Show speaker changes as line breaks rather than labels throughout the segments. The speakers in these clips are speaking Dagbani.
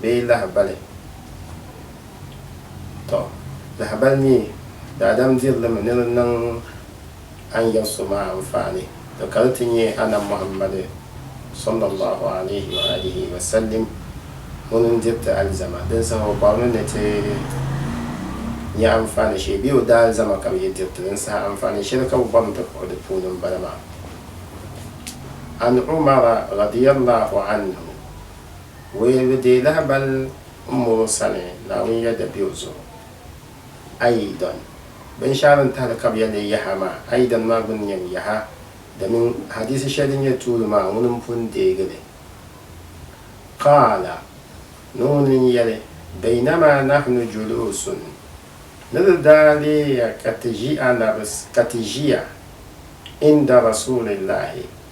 bee lahabali. Tɔ! Lahabali mi, daadam diri li mi ni di niŋ a ni yɛri so maa anfaani, tɔ ka di ti nyɛ Anabi Muhammadu, sallallahu alaihi wa alihi wa sallim, ŋuni n-diri ti alizama, din saha o bɔri ni ni ti nya anfaani shee bee o daalizama ka bɛ yi diri ti din saha anfaani shɛli ka bɛ bɔri ni ti kpuɣi di puuni m-bala maa. An Umara radiyallahu anhu. Wayilibu deei lahabal m mɔŋɔ sani Naawuni ya da be o zuɣu. A yi dɔn binshɛɣu din tahili ka bɛ ya ni yaha maa, a yi dɔn maa gbinni nyɛ ni yaha, domin hadiisi shɛli din nyɛ tuuli maa ŋuni m-pun deegi li. Qaala, ni ŋuni n-yɛli, Baynama nahnu juluusun, ni di daa leei ya ka ti ʒi Anabi, ka ti ʒiya, inda Rasuulillaahi,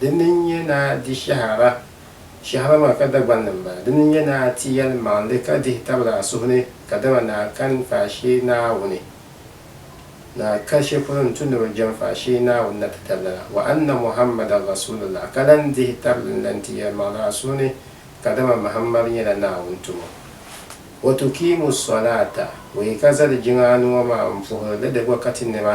Di ni nyɛ ni a di shɛhiraba, shɛhiraba maa ka Dagbani m-bala, di ni nyɛ ni a ti yɛlimaŋli ka dihi tabili a suhu ni, kadama ni a kani faashee Naawuni, ni a ka shɛ polo n-tu ni bɛ jɛm faashee Naawuni na ti tabili a, wa anna Muhammada Rasuulullah, ka lan dihi tabili n-lan ti yɛlimaŋli a suhu ni, kadama Mahammadu nyɛla Naawuni tumo. Wa tukiimu sɔlaata, wa yi ka zali jiŋa anu ŋɔ maa m-puhiri li di gba ka ti nɛma,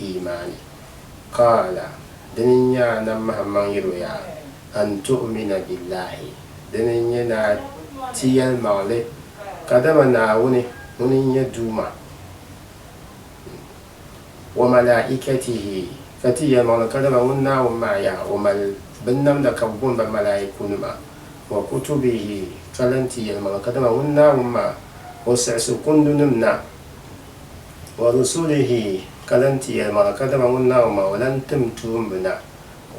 iimaani. Qaala, dini n-nyɛ a Nabi Muhammad yɛl o yaa, An tu'umina billahi, dini n-nyɛ ni a ti yɛlimaŋli, kadama Naawuni ŋuni n-nyɛ Duuma, wa malaa'ikatihi, ka ti yɛlimaŋli kadama ŋun Naawuni maa yaa o mali binnamda ka bɛ booni ba malaa'ikunima, wa kutubihi, ka lan ti yɛlimaŋli kadama ŋun Naawuni maa o siɣisi kundunim na Wa rusulihi, ka lan ti yɛlimaŋli, ka dama ŋun Naawuni maa o lan tim tuumbina,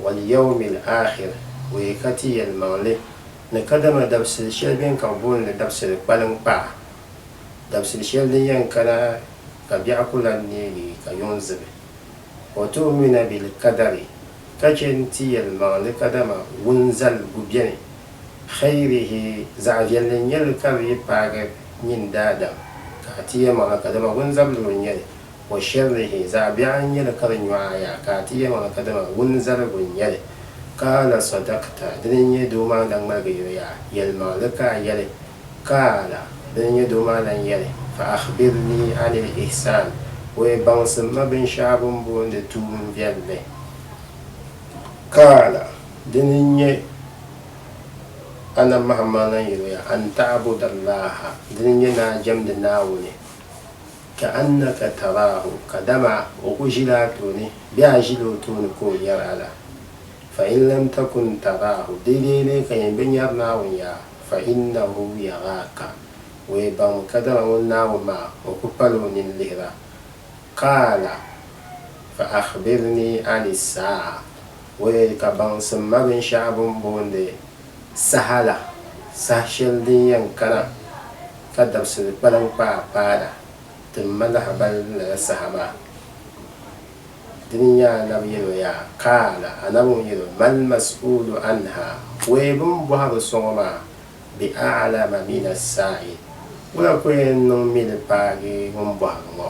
wal yawmil akhir, o yi ka ti yɛlimaŋli ni kadama dabisili shɛli bɛn ka booni li dabisili kpaliŋkpaa, dabisili shɛli din yɛn kana ka biɛɣu ku lan neegi ka yuŋ zibi. Wa tu'umina bil kadari, ka chɛ nti yɛlimaŋli kadama wunzaligu beni Xeyrihi, zaɣ viɛlli n nyɛ li ka di yi paagi nyin daadam, ka a ti yɛlmaŋli ka dama wunzabili n nyɛ li, wa shɛrihi, zaɣ biɛɣu n nyɛ li ka di nyɔɣa ya, ka a ti yɛlmaŋli ka dama wunzaligu n nyɛ li. Qaala sadakta, dini n nyɛ doo maa lan ŋmaligi yo yaa, yɛlmaŋli ka a yɛli. Qaala, dini n nyɛ doo maa lan yɛli, fa akhbirni anil ihsaan, wee baŋsim ma binshɛɣu bɛ ni booni tuun viɛlli. Qaala, Dini n nyɛ Anabi Muhammad lan yɛloya, An ta'budallaha, dini n nyɛ ni a jɛmdi Naawuni, ka'annaka taraahu, kadama o ku ʒila a tooni bee a ʒila o tooni ka o nyari a la. Fa in lam takun taraahu, deedeei lee ka yen bi nyari Naawuni yaa, fa innahu yaraaka, o yi baŋmi kadama ŋun Naawuni maa o ku pala o nini lihira. Qaala, fa akhbirnii ani saa'a. O yɛli ka baŋsim ma binshɛɣu bɛ ni boondi saha la, saha shɛli din yɛn kana ka dabisili kpalim kpaai paana ti m ma lahibal lala saha maa. Dini n-nyɛ a nabi yɛl o yaa, Kaala a nabi ŋun yɛl o, Mal mas'uulu anha, Wee bɛ ni bɔhi bi sɔŋɔ maa, bi a'lama min as-saa'il, Wula ku yɛn niŋ mi li paagi ŋun bɔhiri ŋɔ?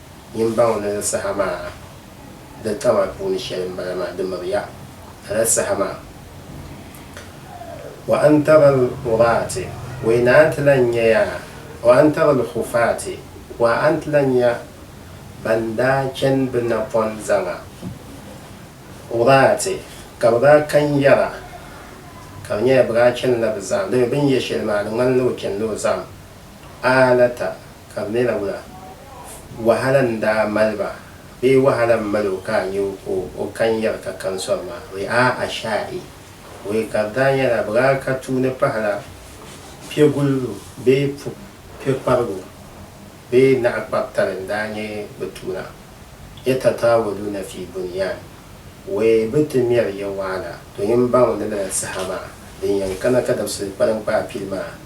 Yimbaŋ ni ni saha maa din ka maa puuni shɛli m-bala maa, di miri ya lala saha maa. Wa an tara al-uraati, wa yi naan ti lan nya ya, wa an tara al-hufaati, wa a ni ti lan nya ban daa chani bɛ napɔn zaŋa, uraati, ka bɛ daa kan yɛra, ka di nyɛla bɛ daa chanila bɛ zahim. Dama bɛ ni yɛ shɛli maa, di ŋmanila o chanila o zahim. Alata ka bɛ ni na wula? Wahala n-daa mali ba bee wahala m-mali o ka a nya o ka o kan yɛri ka kani sɔri maa? Wee a Ashaa'i! Wee ka di daa nyɛla bɛ daa ka tuui ni pahila piɛgulibu bee piɛkparigu bee naɣikpar'tali n-daa nyɛ bɛ tuuna. Yatatawaluuna fii bunyaan. Wee bɛ ti mɛri ya wahala domin baŋ ni lala saha maa din yɛn kana ka dabisili kpalim kpaai pili maa.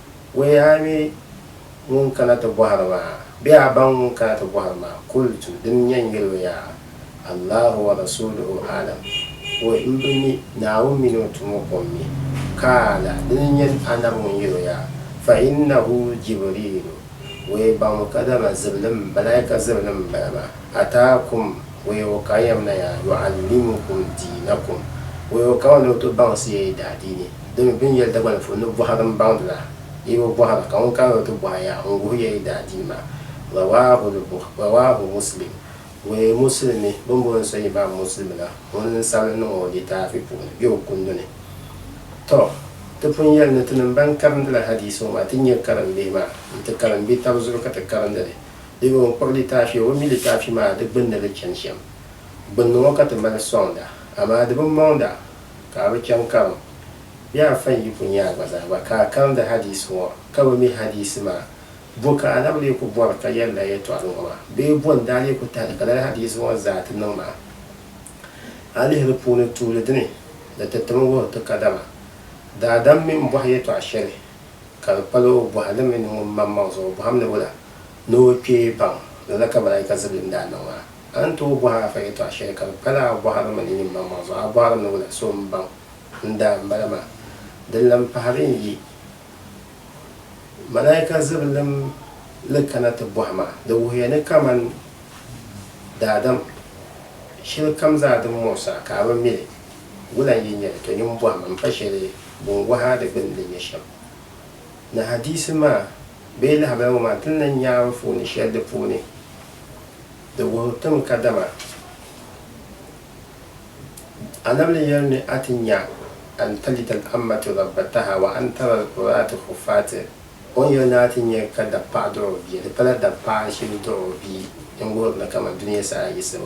Wuni a mi ŋun kana ti bɔhiri ma? Bɛ a baŋ ŋun kana ti bɔhiri ma? Kultu, Di ni nyɛ n yɛli o yaa, Allahu wa rasuuluhu a'lam, O m-bi mi, Naawuni mini o tumo ko m-mi. Kaala, Di ni nyɛ Annabi ŋun yɛli o yaa, Fa innahu Jibriilu, O yi baŋ o ka dama zibilim, Malaika zibilim m-bala maa. A taa kum wɛyɔɔ ka a yɛm na yaa yɔɣu limu kum di na kum wɛyɔɔ ka ŋun ni o ti baŋsi ya yi daa di ni. Di mi bɛn yɛli Dagbani polo ni bɔhiri n baŋdi la, yi bi bɔhira, ka ŋun ka ni o ti bɔhi ya n guhi ya yi daa di maa. Rawaahu li buh, Rawaahu Muslim, Wee Musulimi bɛn booni so Imaam Musulimi la ŋun n sabili niŋ o litaafi puuni bɛ o kundu ni. Tɔ! Ti pun yɛli ni tinim bɛn karindi la hadiisi ŋɔ maa ti nyɛ karimbihi maa n ti karim bɛ taba zuɣu ka ti karindi li Dimi ŋɔ kpuɣi litaafi o bi mi litaafi maa di gbunni li chani shɛm. Gbunni ŋɔ ka ti mali sɔŋda amaa di bi mɔŋda ka a bi chaŋ karim bee a fa n-yi ku nya a gba zaa gba ka a karindi hadiisi ŋɔ ka bi mi hadiisi maa. Bɔ ka a na bi lee ku bɔri ka yɛli lala yɛtɔɣili ŋɔ maa bee bɔ n-daa lee ku tahili ka lala hadiisi ŋɔ zaa ti niŋ maa? A lihi di puuni tuuli dini ni ti tim wuhiri ti kadama daadam mini bɔhi yɛtɔɣ shɛli ka di kpal o bɔhi li mi ni ŋun maŋmaŋ zaŋ o bɔhim ni wula ni o kpe baŋ lala ka malaika zibili ni daa niŋ maa. A ni tooi bɔhi a fa yɛtɔɣ shɛli ka di kpal a bɔhiri mi ni nyin maŋmaŋ zuɣu a bɔhiri ni wula so m-baŋ n daa m-bala maa. Di lan pahi di ni yi malaika zibilim li kana ti bɔhi maa. Di wuhiya ni kaman daadam shɛlikam zaa din muɣis a ka a bi mi li. Wula n-yi nyɛ li? Tɔ nimbɔhim m-pa shɛli bini wɔhi a di gbinni di nyɛ shɛm. Ni hadiisi maa bee lahabali ŋɔ maa ti ni lan nya anfooni shɛli di puuni, di wuhiri ti mi kadama Annabi ni yɛli ni a ti nya an talida al-ammatu rabbataha wa an tara al-urratu huffaati, o ni yɛli ni a ti nya ka dapaɣa dɔɣi o bia, di pala dapaɣa shili dɔɣi o bia n-wuhiri ni kaman dunia saha yiɣisibu.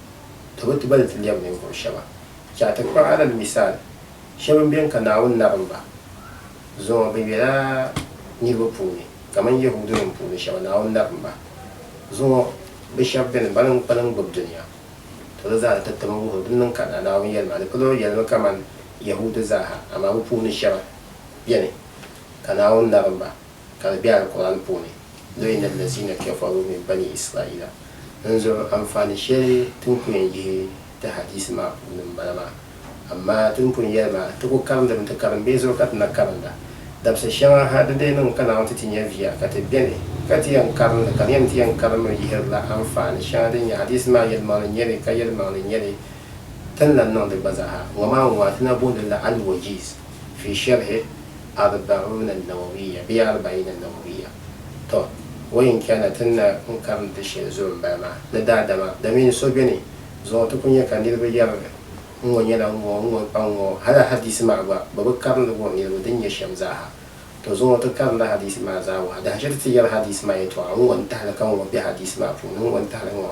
Di bi ti ba ni ti lɛbi ninvuɣ shɛba. Chɛ a ti kpuɣ alali misaal shɛb n beni ka Naawuni nabim ba zuŋɔ binyɛra niriba puuni, kaman Yɛhudinim puuni shɛba Naawuni nabim ba zuŋɔ bɛ shɛb beni bɛ ni kpalim gbib dunia. To di zaa ni ti tim n-wuhi o din niŋ ka n na Naawuni yɛlima ni palo yɛlimi kaman Yɛhudi zaaha, amaa bɛ puuni shɛba beni ka Naawuni nabim ba. ka di be Alkur'aani puuni, ni o yina Allazina kafaru min bani Israila n zuɣu. Anfaani sheli ti ni ku yen yihi ti hadiisi maa puuni m bala maa. Amaa ti ni pun yeli maa, ti ku karindimi ti karimbee zuɣu ka ti na karinda. Dabsi sheŋa ha di lee niŋ ka Naawuni ti ti nya viya ka ti beni ka ti yen karindi ka di nyɛ ni ti yen karimmi yihirila anfaani sheŋa din nyɛ hadiisi maa yelimaŋli n nyeli ka yelimaŋli n nyeli ti ni lan niŋdi gba zaa ha. Ŋɔ maa n-ŋɔ a ti na booni li la Al-Wajiz fi Sharhi Arba'una Nawawiyya bee Arba'ina Nawawiyya. Tɔ! O yi ni chana ti ni na n-karim di shɛli zuɣu m-bala maa, ni daadama, damiin so beni zuɣu ti ku nya ka niriba yɛri li, N ŋɔ nyɛla n ŋɔ, n ŋɔ pa n ŋɔ. Hal a hadiisi maa gba, bɛ bi karim li wuhi niriba din nyɛ shɛm zaa ha. Tɔ! Zuŋɔ ti karimdi hadiisi maa zaa wuhi a. Dahachiri ti yɛli hadiisi maa yɛtɔɣa, N ŋɔ n-tahili ka ŋɔ be hadiisi maa puuni, n ŋɔ n-tahili ŋɔ.